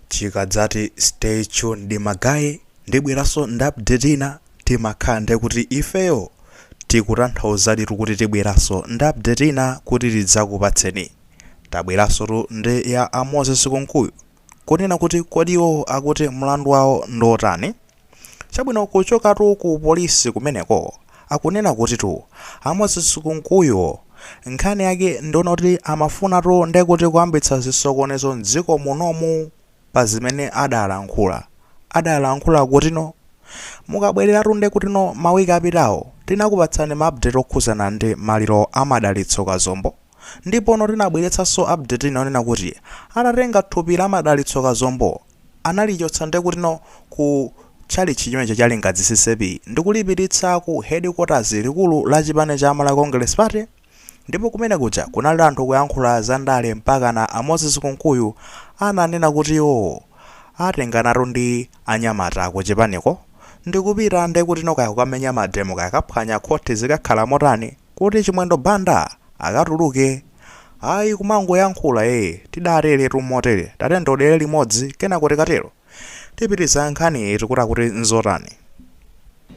chikadzati stay tuned ma guy ndibweranso ndi update ina timakhala nde kuti ifeyo tikutanthauzaditu kuti tibweranso ndi update ina kuti tidzakupatseni tabweranso tu ndi ya a moses kunkuyu kunena kuti kodi iwowo akuti mlandu wawo ndi otani Chabwino kuchokatu ku polisi kumeneko akunena kutitu a Moses Kunkuyu nkhani yake ndi yonena kuti amafunatu ndekuti kuyambitsa zisokonezo m'dziko munomu pa zimene adalankhula. Adalankhula kutino? Mukabwereratu ndekutino ma week apitawo tinakupatsani ma update okhuzana ndi maliro a Madalitso Kazombo ndipono tinabweretsanso update ina yonena kuti atatenga thupi la Madalitso Kazombo analichotsa ndekutino ku tchalitchi chimenecho cha Lingadzi CCAP ndikulipititsa ku headquarters, likulu la chipani cha Malawi Congress Party, ndipo kumene kuja kunali anthu kuyankhula za ndale mpakana a Moses Kunkuyu ananena kuti iwo atenganatu ndi anyamata kuchipaniko ndikupita ndekutino kaya kukamenya mademo kaya kukaphwanya khothi zikakhala motani, Kuti Chimwendo Banda akatuluke? Ayi kumangoyankhula ee tidateretu motere tatiyeni tionere limodzi kenako tikatero tipitiriza nkhaniyi tikuti akuti nzotani?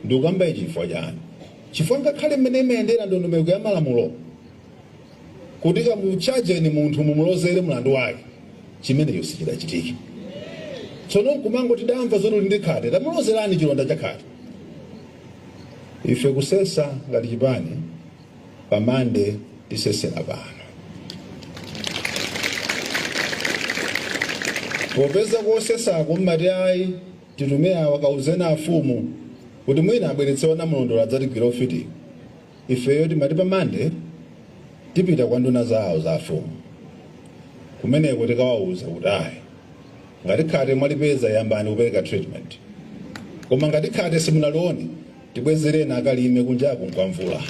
Ndikukamba ichi chifukwa chani? Chifukwa ngakhale mmene imayendera ndondomeko ya malamulo kuti kamutchajeni munthu mumulozere mlandu wake chimenecho sichidachitike. Tsono nkumangoti tidamva zoti uli ndi khate tamulozerani chilonda cha khate. Ife kusesa ngati chipani pa Monday tisesera pano. Popeza kosesako mmati ayi titume awa kauzeni afumu kuti mwina abweretse a Namulondola adzatigwire ufitiwu. Ifeyo timati pa Monday tipita kwa nduna zawo za afumu. Kumeneko tikawauza kuti ayi ngati khate mwalipeza yambani kupereka treatment koma ngati khate simunalione tibwezereni akalime kunjaku nkwamvula.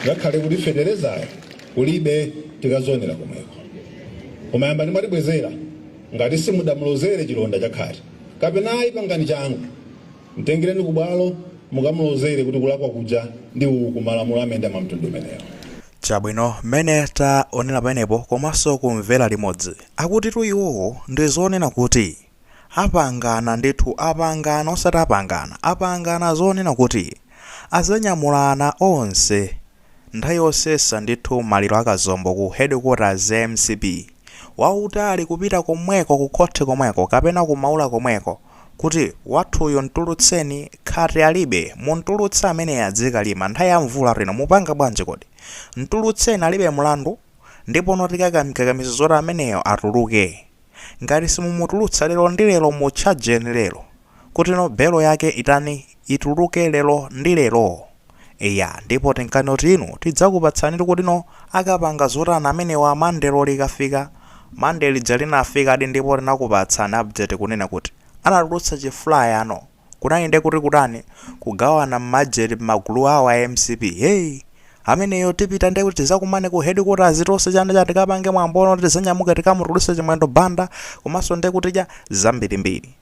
Ngakhale kuti feterezayo kulibe tikazionera komweko. Koma yambani mwatibwezera ngati simudamulozere chilonda cha khate kapena ayi pangani changu. Mtengereni ku bwalo mukamulozere kuti kulakwa kuja ndi uku, malamulo amayenda mwa mtundu umenewo. Chabwino, mmene taonera pamenepo komanso kumvera limodzi, akutitu iwowo ndi zonena kuti apangana ndithu, apangana osati apangana, apangana zonena kuti adzanyamulana onse nthawi yosesa ndithu maliro a Kazombo ku headquarters ya mcp wautali kupita komweko ku khoti komweko kapena ku Maula komweko, kuti wathuyu mtulutseni ngati alibe mumtulutse ameneyu adzikalima nthawi ya mvula ino mupanga bwanji kodi mtulutseni alibe mlandu ndipono tikakamkakamiza zoti ameneyo atuluke ngati simumutulutsa lero ndi lero mutchajeni lero kutino belo yake itani ituluke lero ndi lero Eya, ndipo tinkanena kuti inu tidzakupatsanitu kutino akapanga zotani amenewa Monday lo likafika. Monday lija linafikadi ndipo tinakupatsani update kunena kuti anatulutsa chi flyer no. Kunali nde kuti kutani, kugawana mmageti mmagulu awo a mcp. Hey! Ameneyo tipita nde kuti tizakumane ku headquarters tonse chani chani tikapange mwambo no tizanyamuke tikamutuluse Chimwendo Banda komanso nde kuti chani zambirimbiri.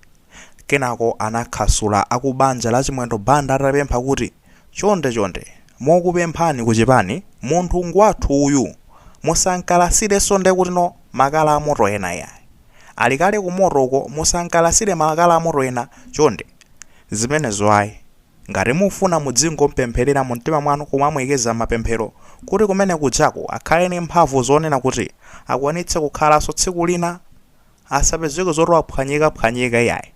Kenako anakhasula akubanja la Chimwendo Banda atapempha kuti, Chonde chonde, mokupemphani kuchipani, munthu ngwathu uyu, musamkalasirenso ndekutino makala amoto ena iyayi. Ali kale kumoto uko musamkalasire makala amoto ena chonde. Zimenezo ayi. Ngati mufuna mudzingompempherera mumtima mwanu kumamuyikiza m'mapemphero kuti kumene kujako akhale ndi mphamvu zonena kuti akwanitse kukhalanso tsiku lina. Asapezeke zoti waphwanyikaphwanyika iyayi,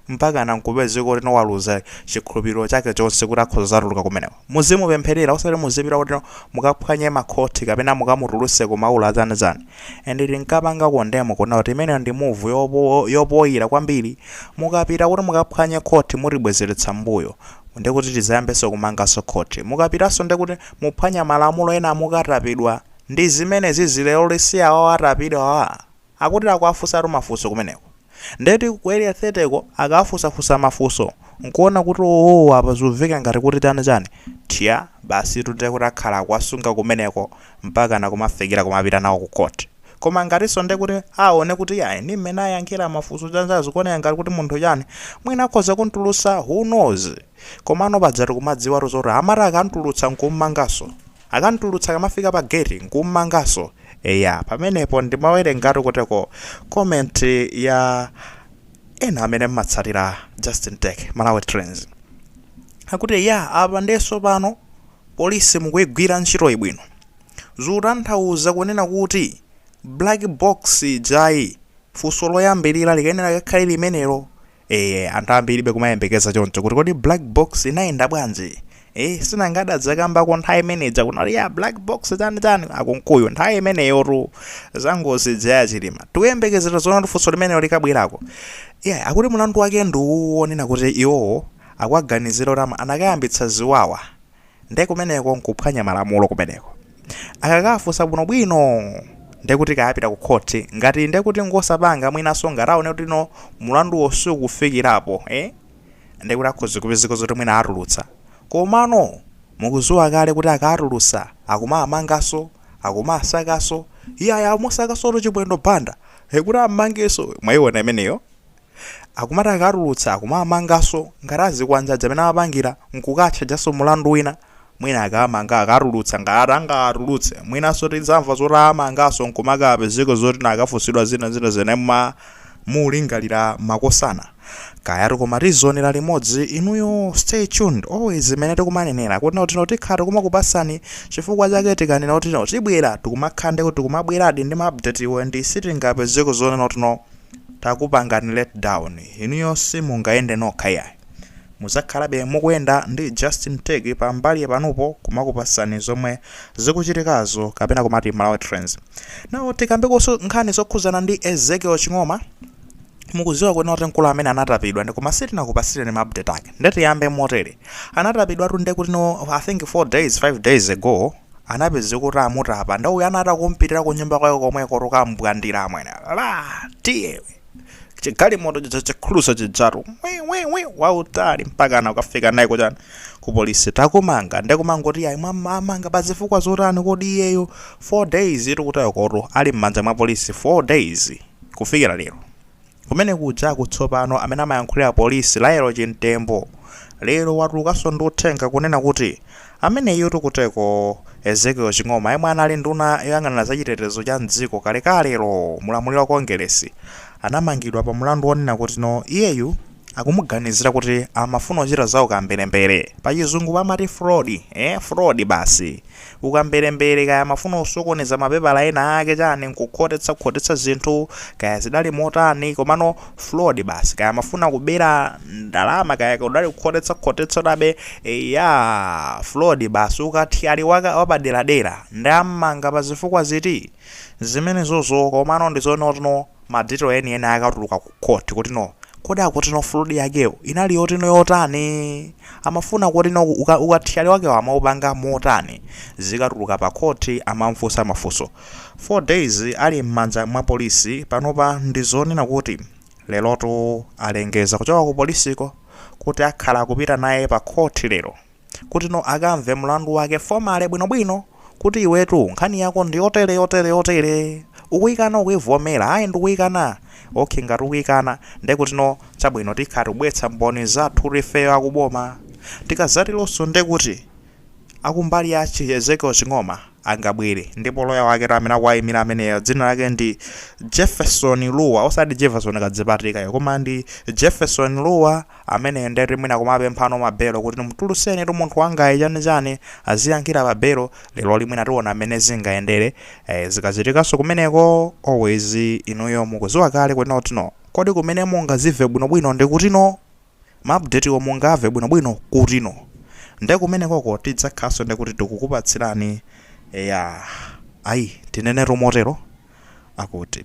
mpakana nkupezeka kutino waluza chikhulupiriro chake chonse kuti akhoza kuzatuluka kumeneko. Muzimupempherera osati muzipita kutino mukaphwanye makhothi kapena mukamutulutse ku maula azanizani. And tinkapanga condemn kuna kuti imeneyo ndi move yopoira kwambiri. Mukapita kuti mukaphwanye khothi mutibwezeretsa m'mbuyo. Ndekuti tizayambenso kumanganso khothi. Mukapitanso ndekuti muphwanya malamulo ena mukatapidwa. Ndi zimenezizi leroli si awawa atapidwawa? Akuti akuwafunsatu mafunso kumeneko. Nde kuti ku Area 30 ko akawafunsafunsa mafunso n'kuona kuti owoo apa zumveka ngati kuti chani chani, thya, basitu ndiye kuti akhala akuwasunga kumeneko mpakana kumafikira kumapita nawo ku court. Koma ngatinso ndiye kuti aone kuti iyayi ndi mmene ayankhira mafunso chani chani zikuoneka ngati kuti munthu chani, mwina akhoza kum'tulutsa who knows? Komano pajatu kumadziwatu zoti amati akam'tulutsa n'kum'manganso. Akamtulutsa akamafika pa gate nkummanganso eya pamenepo ndimawerengatu kuteko comment ya ena amene mmatsatira Justin Tech Malawi Trends akuti eya apa ndiye tsopano polisi mukuigwira ntchitoyi bwino zikutanthauza kunena kuti black box ijayi funso loyambirira likayenera likakhale limenelo ee anthu ambiribe kumayembekeza choncho kuti kodi black box inayenda bwanji ee sinanga adadzakambako nthawi imeneja kuna kuti iya black box chani chani a Kunkuyu nthawi imeneyotu za ngozi zija za a Chilima tikuyembekezera zoona funso limenelo likabwerako iya akuti mlandu wake ndi wonena kuti iwowo akuwaganizira kuti ama- anakayambitsa ziwawa nde kumeneko nkuphwanya malamulo kumeneko akakafunsa bwinobwino ndekuti kaya apita ku khoti ngati ndekuti ngosapanga mwinaso ngati aone kuti no mulanduwo sukufikirapo eh? ndekuti akhoza kupezeka zoti mwina atulutsa komano mukuziwa kale kuti akatulutsa akumamangaso akumasakaso iyaya amusakasotu Chimwendo Banda kuti ammangeso mwayiona imeneyo Akumati akawatulutsa akumawamanganso, ngati azikwanje aja amene amapangira n'kukatchajanso mlandu wina. Mwina akawamanga akawatulutsa, ngati angawatulutse mwinanso tidzamva zoti awamanganso n'kumakapezeka zoti no akafunsidwa zina ndi zina zimene mulingalira makosana. Kayatu koma tizionera limodzi, inuyo stay tuned always zimene tikumanenera kuti no tikhala tikumakupatsani chifukwa chake tikanena kuti no tibwera tikumakhala ndekuti tikumabweradi ndi ma update wo and sitingapezeko zonena kuti no takupangani let down inuyo simungayende nokha yayi muzakhalabe mukuyenda ndi Justin Tech pa mbali panupo kumakupasani zomwe zikuchitikazo kapena kumati Malawi Trends now tikambekoso nkhani zokhuzana ndi Ezekiel Ching'oma mukuziwa kunena kuti mkulu amene anatapidwa ndikoma sitinakupasireni ma update ake ndetiyambe motere anatapidwatu nde kuti no i think 4 days 5 days ago anapezeka kuti amutapa ndauyo anachita kumpitira ku nyumba kwake komweko kukambwandira amwene la tiye chigalimoto chija chi cruiser chijatu wiwiwi wautali mpakana kukafika naye ku chani ku polisi takumanga ndikumangoti ayi mwamanga pa zifukwa zotani kodi iyeyo 4 days tikutayo koto ali m'manja mwa polisi 4 days kufikira lero Kumene kujaku tsopano amene amayankhulira polisi Lael Chimtembo lero watulukaso ndi uthenga kunena kuti ameneyutu kuteko Ezekiel Ching'oma yemwe anali nduna yoyang'anira za chitetezo cha m'dziko kalekalelo mu ulamuliro wa Kongeresi anamangidwa pa mulandu wonena kuti no iyeyu akumuganizira kuti amafuna kuchita za ukamberembere pachizungu amati fraud, ee fraud basi. Ukamberembere kaya amafuna kusokoneza mapepala ena ake chani nkukhotetsa khotetsa zinthu kaya zidali motani komano fraud basi kaya amafuna kubera ndalama kaya kudali kukhotetsa khotetsa chabe eyaa fraud basi ukathyali wake wapaderadera nde ammanga pazifukwa ziti? Zimenezozo komano ndizoti no ma detail eni eni akatuluka ku court kuti no kodi akuti no fraud yakeyo inali yoti no yotani amafuna kuti no uka- ukathyali wakewo amaupanga motani zikatuluka pa court amamfunsa mafunso 4 days ali m'manja mwa polisi panopa ndi zonena kuti lerotu alengeza kuchoka ku polisiko kuti akhala akupita naye pa court lero kuti no akamve mlandu wake formally bwinobwino kuti iwetu nkhani yako ndi yotere yotere yotere ukuyikana ukuyivomera ayi ndikuyikana okay ngati ukuyikana nde kuti no chabwino tikhala tikubweretsa mboni zathu tifeyo akuboma tikazatironso nde kuti akumbali ya chi- ezekiel ching'oma angabwere ndipo loya wake amene akuwayimira ameneyo dzina lake ndi jefferson luwa osati jefferson kadzipatirikayo koma ndi jefferson luwa ameneyo nde kuti mwina kumapemphanso ma belo kuti mtuluseni tu munthu wangayi chani chani aziyankhira pa belo lero mwina tiona amene zingayendere eh, zikachitikanso kumeneko always inuyo mukuziwa kale kuti no kodi kumene mungazive bwinobwino ndi kuti no maupdateo mungamve bwinobwino kuti no nde kumenekoko tidzakhaso nde kuti tikukupatsirani ya ayi tinenetu motere akuti